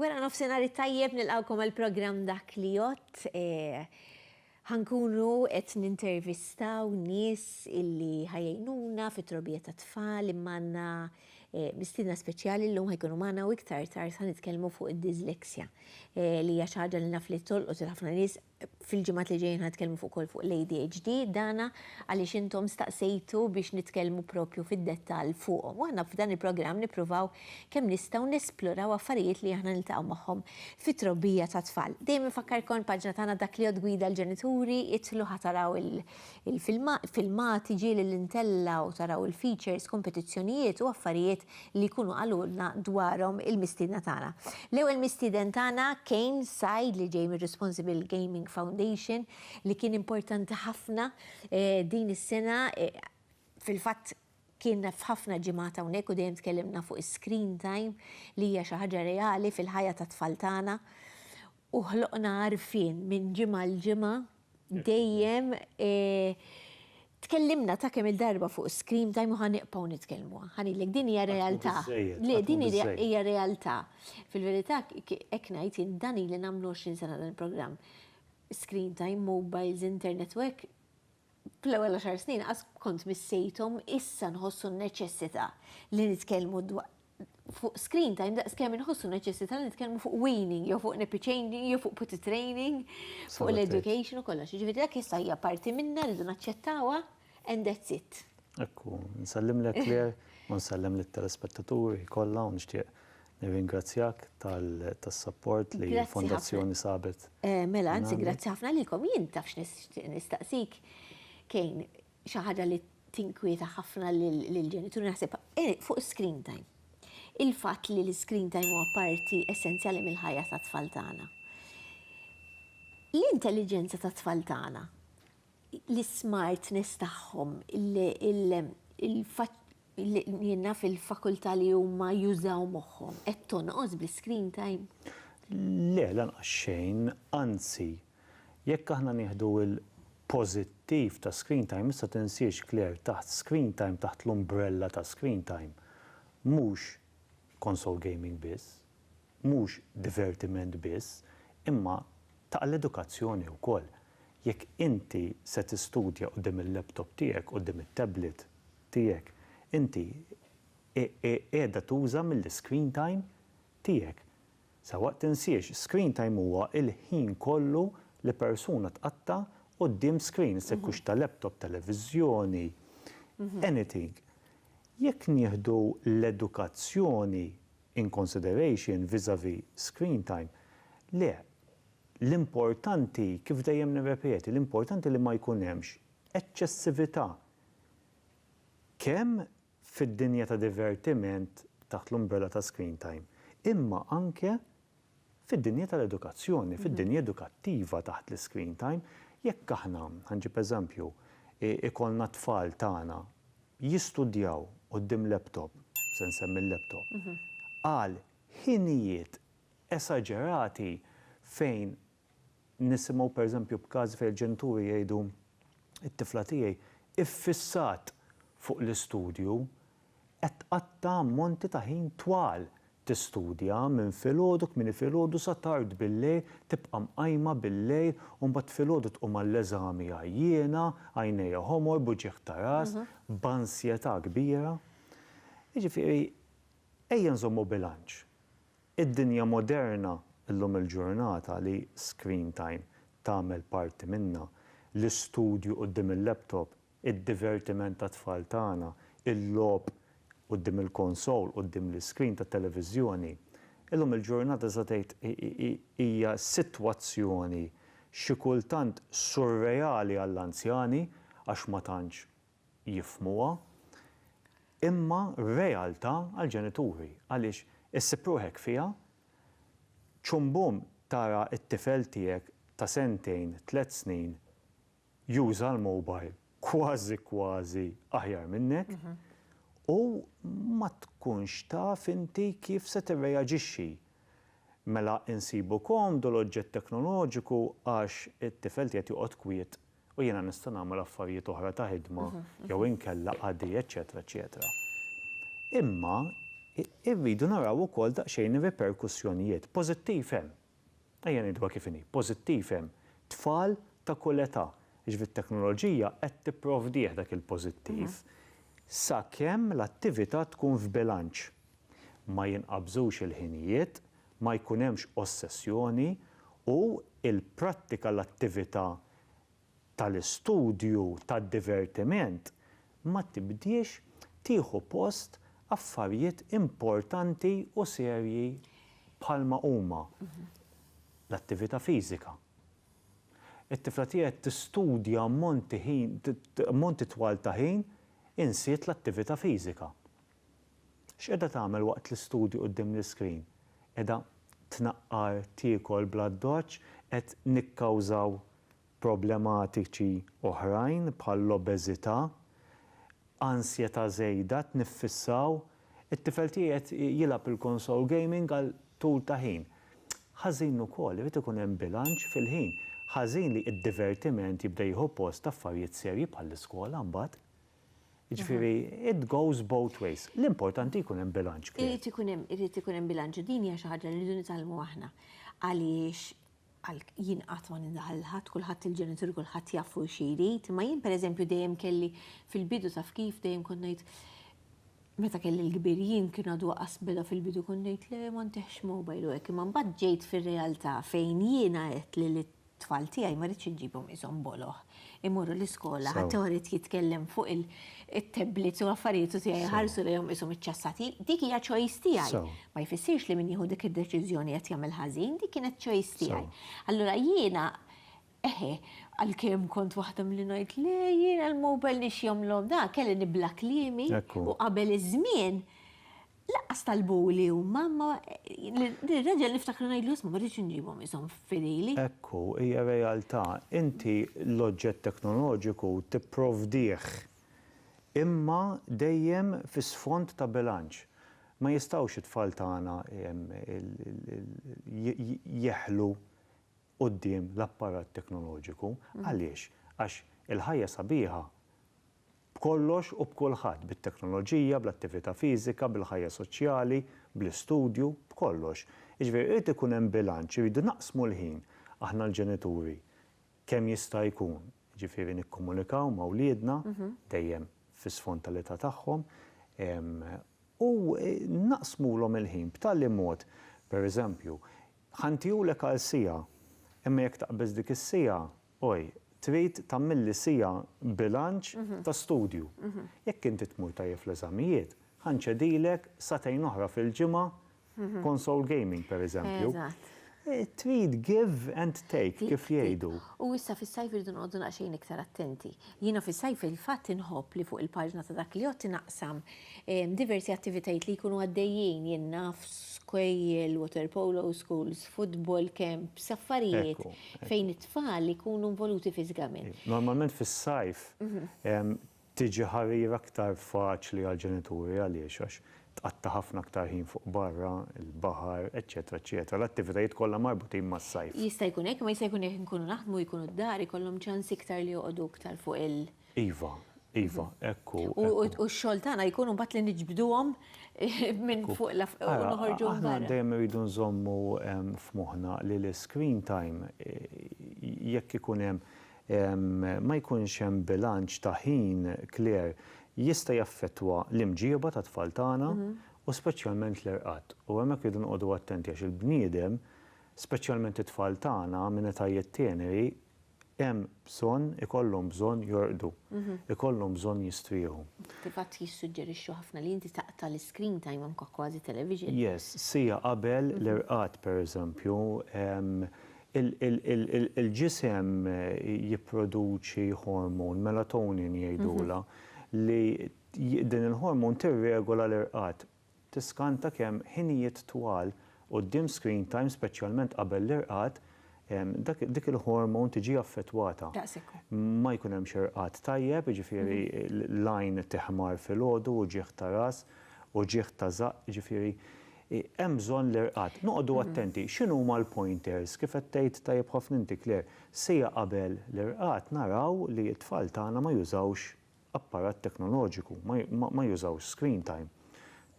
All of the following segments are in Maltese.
Wara nofsinhar it-tajjeb nilqgħukom għall-programm Dak li Jgħodd. Ħankunu qed nintervistaw nies illi ħajgħinuna fit-trobija tat-tfal imma għandna mistiedna speċjali llum ħajkunu magħna u iktar tard ħanitkellmu fuq id-dyslexia li hija xi ħaġa li naf li tolqot il ħafna nies Fil-ġimgħat li ġejjin ħa nitkellmu fuq ukoll fuq l-ADHD, dana għaliex intom staqsejtu biex nitkellmu proprju fid-dettall fuqhom. U aħna f'dan il-programm nippruvaw kemm nistgħu nesploraw affarijiet li aħna niltaqgħu magħhom fit-trobbija tat-tfal. Dejjem infakkarkom il-paġna tagħna Dak li Jgħodd Gwida l-Ġenituri, idħlu ħa taraw il-filmati, filmati, ġieli li ntellgħu, taraw il-features, kompetizzjonijiet u affarijiet li jkunu qalulna dwarhom il-mistiedna tagħna. L-ewwel mistieden tagħna Kane Said li ġej mir-Responsible Gaming Foundation li kien importanti ħafna din is-sena fil-fatt kien f'ħafna ġimgħat hawnhekk u dejjem tkellimna fuq is-screen time li hija xi ħaġa reali fil-ħajja tat-tfal tagħna u ħloqna għarfien minn ġimgħa għal ġimgħa dejjem tkellimna ta' kemm il-darba fuq is-screen time u ħa nibqgħu nitkellmu. Ħa ngħidlek din hija realtà. Le, din hija realtà. Fil-verità hekk ngħid jien dan ili nagħmlu 20 sena dan il-programm. Screen time, mobiles, internet u hekk fl-ewwel għaxar snin qas kont missejthom issa nħossu n-neċessità li nitkellmu fuq screen time daqs kemm inħossu neċessità li nitkellmu fuq weaning, jew fuq nappy changing, jew fuq put training, fuq l-education u kollox. Ġifieri dak issa hija parti minna rridu naċċettawha and that's it. Ekku, nsellimlek Claire u nsellem lit-telespettaturi kollha u nixtieq nirringrazzjak tas-sapport li l-Fondazzjoni sabet. Mela, anzi, grazzi ħafna lilkom. Jien taf x'nixtieq nistaqsik, Kejn, xi ħaġa li tinkwieta ħafna lill-ġenituri naħseb eh, fuq screen time. Il-fatt li l-screen time huwa parti essenzjali mill-ħajja tat-tfal tagħna. L-intelligenza tat-tfal tagħna, l-smartness tagħhom, jenna fil-fakultà li huma jużaw moħħhom, qed tonqos bl-screen time? Le, lanqas xejn, anzi, Jekk aħna nieħdu l-pożittiv ta' screen time, issa tinsiex Claire, taħt screen time, taħt l-umbrella ta' screen time, mhux console gaming biss, mhux divertiment biss, imma ta' l-edukazzjoni wkoll. Jekk inti se tistudja quddiem il-laptop tiegħek, quddiem it-tablet tiegħek, inti qiegħda tuża mill-iscreen time tiegħek. Sewwa tinsiex, screen time huwa l-ħin kollu li persuna tqatta' quddiem screen, se jkunx ta' laptop, televiżjoni, anything. Jekk nieħdu l-edukazzjoni in consideration vis-à-vis screen time, le, l-importanti, kif dejjem nirrepeti, l-importanti li ma jkun hemmx eċċessività kemm fid-dinja ta' divertiment taħt l-umbrella ta' screen time, imma anke fid-dinja tal-edukazzjoni, fid-dinja edukattiva taħt l-iscreen time. Jekk aħna, ħa nġib eżempju, ikollna t-tfal tagħna jistudjaw quddiem laptop, se nsemmi l-laptop, għal ħinijiet esaġerati fejn Nisimgħu pereżempju b'każi fejn il-ġenituri jgħidu, It-tifla tiegħi iffissat fuq l-istudju, qed tqatta' ammonti ta' ħin twal tistudja minn filgħodu kmieni filgħodu sa tard billejl, tibqa' mqajma billejl u mbagħad filgħodu tqum għall-eżami għajjiena, għajnejha ħomor, b'uġigħ ta' ras, b'ansjetà kbira. Jiġifieri, ejja nżommu bilanċ. Id-dinja moderna llum il-ġurnata li screen time tagħmel parti minnha, l-istudju quddiem il-laptop, id-divertiment tat-tfal tagħna, il-logħob quddiem il-konsol, quddiem l-iscreen tat-televiżjoni, illum il-ġurnata tista' tgħid hija sitwazzjoni xi kultant surreali għall-anzjani għax ma tantx jifhmuha, imma realtà għall-ġenituri għaliex issib ruħek fiha, ċum bum tara t-tifel tiegħek ta' sentejn, tliet snin juża l-mobile kważi kważi aħjar minnek u ma tkunx taf inti kif se tirreaġixxi. Mela insibu komdu l-oġġett teknoloġiku għax it-tifel qiegħed joqgħod kwiet u jiena nista' nagħmel affarijiet oħra ta' ħidma jew inkella qadi, eċċetera eċċetera. Imma irridu naraw ukoll daqsxejn ir-riperkussjonijiet. Pożittiv hemm. Ejja ngħiduha kif inhi, pożittiv hemm. Tfal ta' kull età, jiġifieri t-teknoloġija qed tipprovdih dak il-pożittiv sakemm l-attività tkun f'bilanċ. Ma jinqabżux il-ħinijiet, ma jkun hemmx ossessjoni u l-prattika l-attività tal-istudju tad-divertiment ma tibdiex tieħu post affarijiet importanti u serji bħalma huma l-attività fiżika. It-tifla tiegħi qed tistudja ammonti ħin ammonti twal ta' ħin insiet l-attività fiżika. X'qiegħda tagħmel waqt l-istudju quddiem l-iskrin? Qiegħda tnaqqar tiekol bl-addoċċ? Qed nikkawżaw problematiċi oħrajn bħall-obeżità? Ansjetà żejda? Qed niffissaw? It-tifel tiegħi qed jilgħab il-konsol gaming għal tul ta' ħin. Ħażin ukoll, irid ikun hemm bilanċ fil-ħin. Ħażin li d-divertiment jibda jieħu post affarijiet serji bħall-iskola mbagħad. Jiġifieri it goes both ways. L-importanti jkun hemm bilanċ, Claire. Irid ikun hemm, irid ikun hemm bilanċ u din hija xi ħaġa li rridu nitgħallmu aħna. Għaliex jien qatt ma nindaħal lil ħadd, kulħadd il-ġenituri kulħadd jaf hu xi jrid, imma jien pereżempju dejjem kelli fil-bidu taf kif dejjem kont ngħid meta kelli l-kbir jien kien għadu aqas beda fil-bidu kont ngħid le ma ntihx mobile u hekk, imma mbagħad ġejt fir-realtà fejn jiena għedt li Tfal tiegħi ma rridx inġibhom qishom boloh. Imorru l-iskola, ħadd ieħor irid jitkellem fuq it-tablets u l-affarijiet u tiegħi ħarsu lejhom qishom iċċassati. Dik hija choice tiegħi. Ma jfissirx li min jieħu dik id-deċiżjoni qed jagħmel ħażin, dik kienet choice tiegħi. Allura jiena eħe, għalkemm kont waħda milli ngħid le jiena l-mobile nixjomlhom da, kelli nibla' kliemi u qabel iż-żmien Laqqas talbuli huma, imma nirreġa' niftakar u ngħidlu, isma' ma rridx inġibhom ishom fidili. Hekk hu, hija realtà. Inti l-oġġett teknoloġiku tipprovdih, imma dejjem fi sfond ta' bilanċ. Ma jistgħux it-tfal tagħna jeħlu quddiem l-apparat teknoloġiku. Għaliex? Għax il-ħajja sabiħa B'kollox u b'kulħadd, bit-teknoloġija, bl-attività fiżika, bil-ħajja soċjali, bl-istudju, b'kollox. Jiġifieri irid ikun hemm bilanċ, irridu naqsmu l-ħin aħna l-ġenituri kemm jista' jkun, jiġifieri nikkomunikaw ma' wliedna, dejjem fi sfond tal-età tagħhom, u naqsmulhom il-ħin b'tali mod, pereżempju, ħa ntihulek għal siegħa, imma jekk taqbeż dik is-siegħa, Oj, trid tagħmilli siegħa bilanċ ta' studju. Jekk inti tmur tajjeb fl-eżamijiet, ħa nċedilek sagħtejn oħra fil-ġimgħa console gaming, pereżempju. Trid give and take, kif jgħidu. U issa fis-sajf irridu noqogħdu daqsxejn iktar attenti. Jiena fis-sajf fil-fatt inħobb li fuq il-paġna ta' dak li għodt inaqsam diversi attivitajiet li jkunu għaddejjin, jien naf, skejjel, water polo schools, futbol, camps, affarijiet fejn it-tfal ikunu involuti fiżikament. Normalment fis-sajf tiġi ħarira aktar faċli għall-ġenituri għaliex għax tqatta' ħafna aktar ħin fuq barra, il-baħar, eċċetera eċċetera, l-attivitajiet kollha marbutin mas-sajf. Jista' jkun hekk, imma jista' jkun jekk inkunu naħdmu jkunu d-dar ikollhom ċans iktar li joqogħdu iktar fuq il-baħar. Iva, iva, hekk hu. U x-xogħol tagħna jkun imbagħad li niġbduhom minn fuq u noħorġuhom barra. Aħna dejjem irridu nżommu f'moħħna li l-iscreen time jekk ikun hemm ma jkunx hemm bilanċ ta' ħin kler jista' jaffettwa l-imġieba tat-tfal tagħna u speċjalment l-irqad. U hemmhekk irridu noqogħdu attenti għax il-bniedem, speċjalment it-tfal tagħna minn etajiet teneri, Hemm bżonn, ikollhom bżonn jorqdu. Ikollhom bżonn jistrieħu. Fil-fatt jissuġġerixxu ħafna li inti taqta' l-iscreen time anke kważi television. Yes, siegħa qabel l-irqad pereżempju, il-ġisem jipproduċi hormone, melatonin jgħidulha, li din il-hormone tirregola l-irqad. tiskanta kemm ħinijiet twal quddiem screen time speċjalment qabel l-irqad dik il-hormone tiġi affettwata. Ma jkun hemmx irqad tajjeb, jiġifieri l-għajn tiħmar filgħodu, uġigħ ta' ras, uġigħ ta' żaqq, jiġifieri hemm bżonn l-irqad. Noqogħdu attenti x'inhuma l-pointers, kif qed tgħid tajjeb ħafna inti Claire, siegħa qabel l-irqad naraw li t-tfal tagħna ma jużawx apparat teknoloġiku, ma jużawx screen time,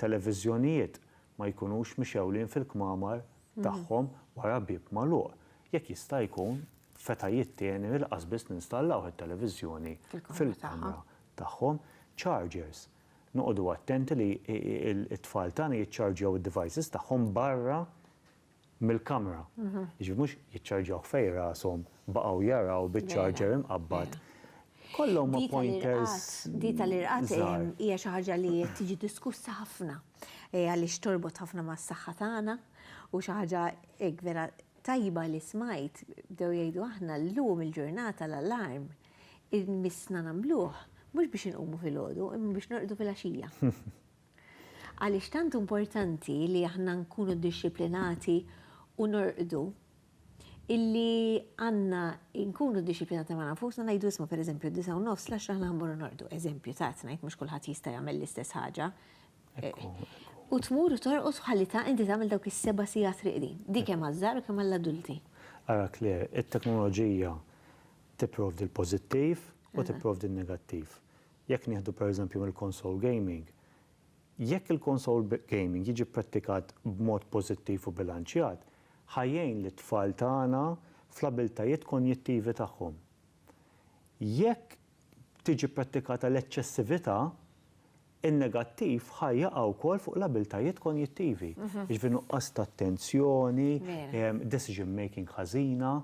televiżjonijiet ma jkunux mixewlin fil-kmamar tagħhom wara bieb magħluq, jekk jista' jkun f'etajiet teneri laqas biss ninstallawh it-televiżjoni fil-kamra tagħhom, chargers, noqogħdu attenti li t-tfal tagħna jiċċarġjaw id-devices tagħhom barra mill-kamra. Jiġifieri mhux jiċċarġawh fejn rashom baqgħu jaraw biċ-charger imqabbad. Kollha huma pointers. Di tal-irqad hija xi ħaġa li tiġi diskussa ħafna għaliex torbot ħafna mas-saħħa tagħna u xi ħaġa hekk vera tajba li smajt bdew jgħidu aħna llum il-ġurnata l-alarm missna nagħmluh mhux biex inqumu filgħodu imma biex norqdu filgħaxija. Għaliex tant importanti li aħna nkunu ddixxiplinati u norqdu illi għandna nkunu ddixxiplinati ma' nfusna ngħidu isma' pereżempju d-disgħa u nofs, l-għaxra aħna ħammorru norqdu, eżempju ta' qed ngħid mhux kulħadd jista' jagħmel l-istess ħaġa, u tmur u torqod ħalli ta' inti tagħmel dawk is-seba' sigħat riqdin, di kemm għaż-żgħar u kemm għall-adulti. Ara Claire, it-teknoloġija tipprovdi l-pożittiv u tipprovdi n-negattiv. Jekk nieħdu pereżempju mill-console gaming, jekk il-console gaming jiġi pprattikat b'mod pożittiv u bilanċjat, ħa jgħin lit-tfal tagħna fl-abiltajiet konjittivi tagħhom. Jekk tiġi pprattikata l-eċċessività, in-negattiv ħa jaqa' wkoll fuq l-abiltajiet konjittivi, jiġifieri nuqqas ta' attenzjoni, decision making ħażina,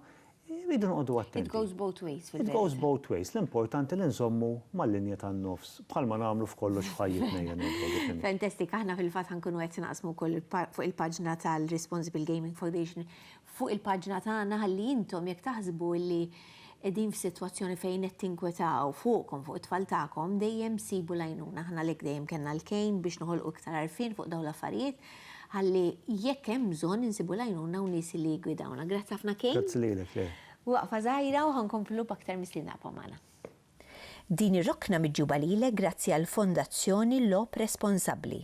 Irridu noqogħdu attenti. It goes both ways fil-verità. It goes both ways. L-importanti li nżommu mal-linja tan-nofs, bħalma nagħmlu f'kollox f'ħajjitna hija ngħidlu dik il-linja. Fantastic, aħna fil-fatt ħa nkunu qed naqsmu wkoll fuq il-paġna tal-Responsible Gaming Foundation fuq il-paġna tagħna ħalli intom jekk taħsbu li qegħdin f'sitwazzjoni fejn qed tinkwetaw fuqkom, fuq it-tfal tagħkom, dejjem sibu l-għajnuna. Aħna għalhekk dejjem kellna l-kejn biex noħolqu iktar għarfien fuq dawn l-affarijiet Ħalli jekk hemm bżonn insibu l-għajnuna u nies li jiggwidawna. Grazzi ħafna Kane. Grazzi lilek, Claire. Waqfa żgħira u ħa nkomplu b'aktar mistiedna ibqgħu magħna. Din ir-rokna miġjuba lilek grazzi għall-Fondazzjoni Logħob Responsabbli.